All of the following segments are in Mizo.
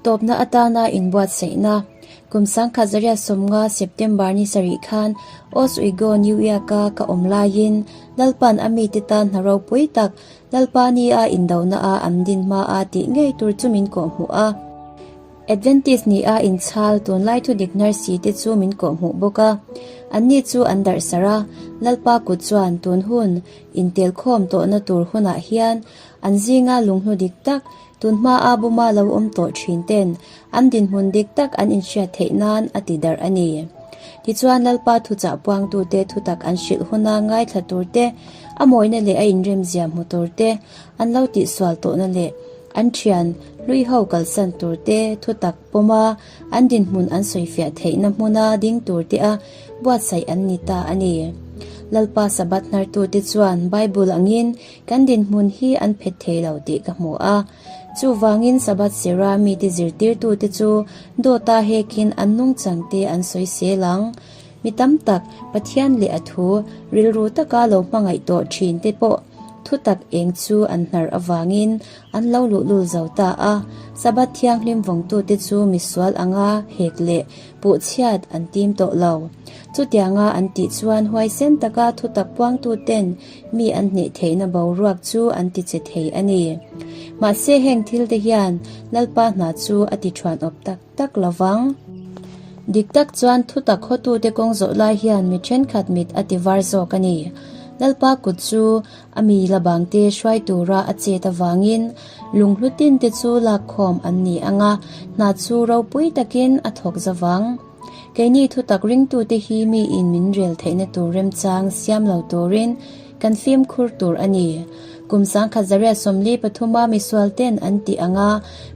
Tawpna atana inbuatsaihna. Kum sangkhat Zarya sawmnga, September, ni sarih khan Oswego, New York, a ka awm laiin Lalpa'n a mite tan hna ropui tak Lalpa ni a indohna a an din hma a tih ngei tur chu min kawh hmu a. Adventist ni a inchhal tunlai thudik Nurse te chu min kawh hmu bawk a. Anni chu an darhsarh a, Lalpa kut chuan tun hun intelkhawm tawhna tur hunah hian An zinga lung hnu dik tak, tun hmaa buma lo awm tawh thin ten an dinhmun dik tak an inhriat theih nan a ti darh a ni. Tichuan Lalpa thuchah puangtute thutak an hrilh huna ngaithla tur te, a mawina leh a inremzia hmu tur te, an lo tihsual tawhna leh an thian hlui ho kalsan tur te, thutak pawma an dinhmun an sawifiah theihna hmuna ding tur te a buatsaih an ni ta a ni. Lalpa Sabbath hnartute chuan Bible angin, Kan dinhmun hi an phet thei lo tih ka hmu a, chuvangin Sabbath sira mite zirtirtute chu dawta hekin an nungchangte an sawi sel ang. Mi tam tak Pathian leh a thu rilru taka lo hmangaih tawh thinte pawh thutak eng chu an hnar avangin an lo luhlul zo ta a. Sabbath thianghlim vawngtute chu misual anga hek leh puhchhiat an tim tawh lo. Chutianga an tih chuan huaisen taka thutak puangtuten, mi an hnih theihna boruak chu an ti che thei a ni. Mahse heng thil te hian Lalpa hna chu a ti thuan awp tak tak lo vang. Dik tak chuan thutak hawtu te kawng zawh lai hian mi thenkhat mit a ti var zawk a ni. Lalpa kut chu a mi la bang te hruai tura a chet avangin lung hlutin te chu lakkhawm an ni anga hna chu ropui takin a thawk zavang. Keini thutak ringtute hi miin min rel theihna tur remchang siam lo turin kan fimkhur tur a ni. Kum sangkhat Zaria sawmli pathuma misualte'n an ti ang a,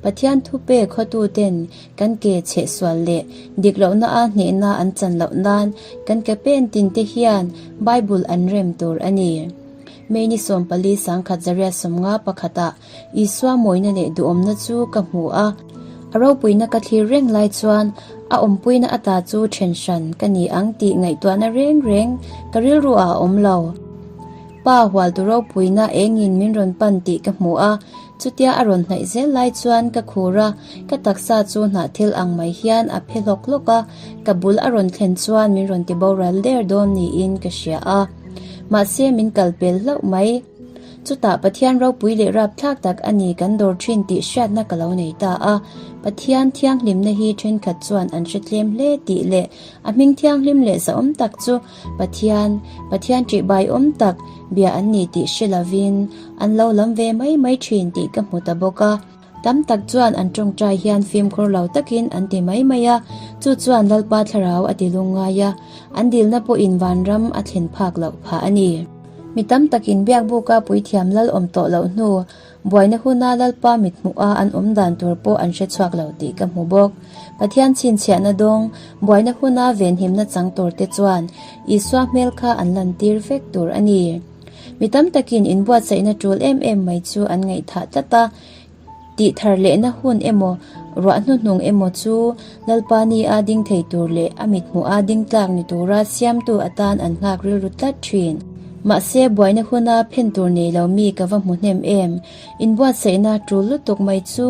Pathian thupe khawtute'n kan ke chhe sual leh dik lohna a hnehna an chan loh nan kan ke pen tinte hian Bible an rem tur a ni. Mei ni sawmpali sangkhat Zaria sawmnga pakhatah Isua mawina leh duhawmna chu ka hmu a, a ropuina ka thlir reng lai chuan a awmpuina ata chu then hran ka ni ang tih ngaihtuahna reng reng ka rilruah a awm lo. Pa hual tu ropuina engin min rawn pan tih ka hmu a, chutia a rawn hnaih zel lai chuan ka khur a, ka taksa chu hnah thil ang mai hian a phe hlawk hlawk a, ka bul a rawn thlen chuan min rawn ti boral der dawn niin ka hria a, mahse min kal pel hlauh mai. Chutah Pathian ropui leh rapthlak tak a ni kan dawr thin tih hriatna ka lo nei ta a. Pathian thianghlimna hi thenkhat chuan an hre tlem hle tih leh a hming thianghlim leh zahawm tak chu Pathian, Pathian tih baiawm tak bia an ni tih hre lovin an lo lam ve mai mai thin tih ka hmu ta bawk a. Tam tak chuan an tawngtai hian fimkhur lo takin an ti mai mai a, chu chuan Lalpa thlarau a ti lung ngai a, an dilna pawhin vanram a thlen phak loh phah a ni. Mi tam takin biakbuka puithiam lal awm tawh loh hnu, buaina huna Lalpa mit hmuha an awm dan tur pawh an hre chhuak lo tih ka hmu bawk. Pathian chhinchhiahna dawng, buaina huna venhimna chang tur te chuan Isua hmel kha an lantir vek tur a ni. Mi tam takin inbuatsaihna tul em em mai chu an ngaihthah tlat a, tihthar lehna hun emaw, ruah hnuhnung emaw chu Lalpani a ding thei tur leh a mithmuh a ding tlak ni tura siamtu atan an nghak rilru tlat thin. Mahse, buaina huna phen tur nei lo mi ka va hmu hnem em, inbuatsaihna tul lutuk mai chu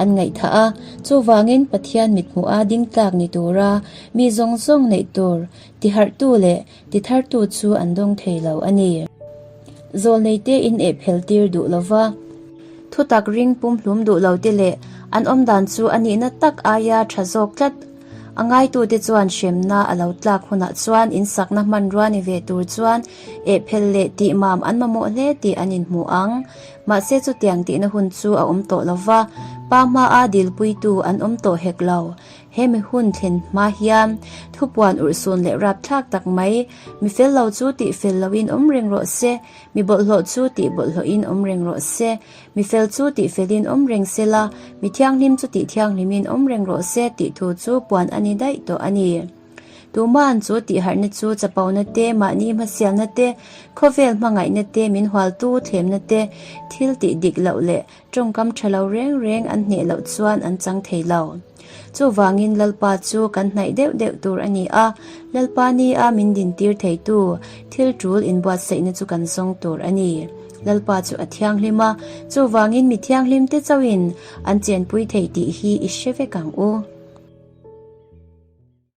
an ngaihthah a, chuvangin Pathian mithmuh a ding tlak ni tura mi zawng zawng neih tur, tiharhtu leh ti thar tu chu an dawng thei lo a ni. Zawl nei te in eh phel tir duh lo va, thutak ring pum hlum duh lo te leh an awm dan chu a nihna tak aia tha zawk tlat a ngai tu te chuan hremna a lo tlak hun ah chuan in sakna hmanrua ni ve tur chuan eh phel leh tih mam an mamawh hle tih an in hmuh ang. Mahse chutiang tihna hun chu a awm tawh lo va, pa hma a dilpui tu an awm tawh hek lo. Hemi hun thlen hma hian thupuan urhsun leh rapthlak tak mai, mi fel lo chu tih fel loin awm reng rawh se, mi bawlhhlawh chu tih bawlhhlawhin awm reng rawh se, mi fel chu tih felin awm reng se la, mi thianghlim chu tih thianghlimin awm reng rawh se tih thu chu puan a ni daih tawh a ni. Tuma'n chu tihharhna chu chapona te, mahni hmasialna te, khawvel hmangaihna te, min hual tu thlemna te, thil tih dik loh leh, Tawngkam tha lo reng reng an hneh loh chuan an chang thei lo. Chuvangin Lalpa chu kan hnaih deuh deuh tur a ni a, Lalpa ni a min din tir theitu thil tul in buatsaihna chu kan zawng tur a ni. Lalpa chu a thianghlim a, chuvangin mi thianghlim te chauh in an chenpui thei tih hi i hre vek ang u.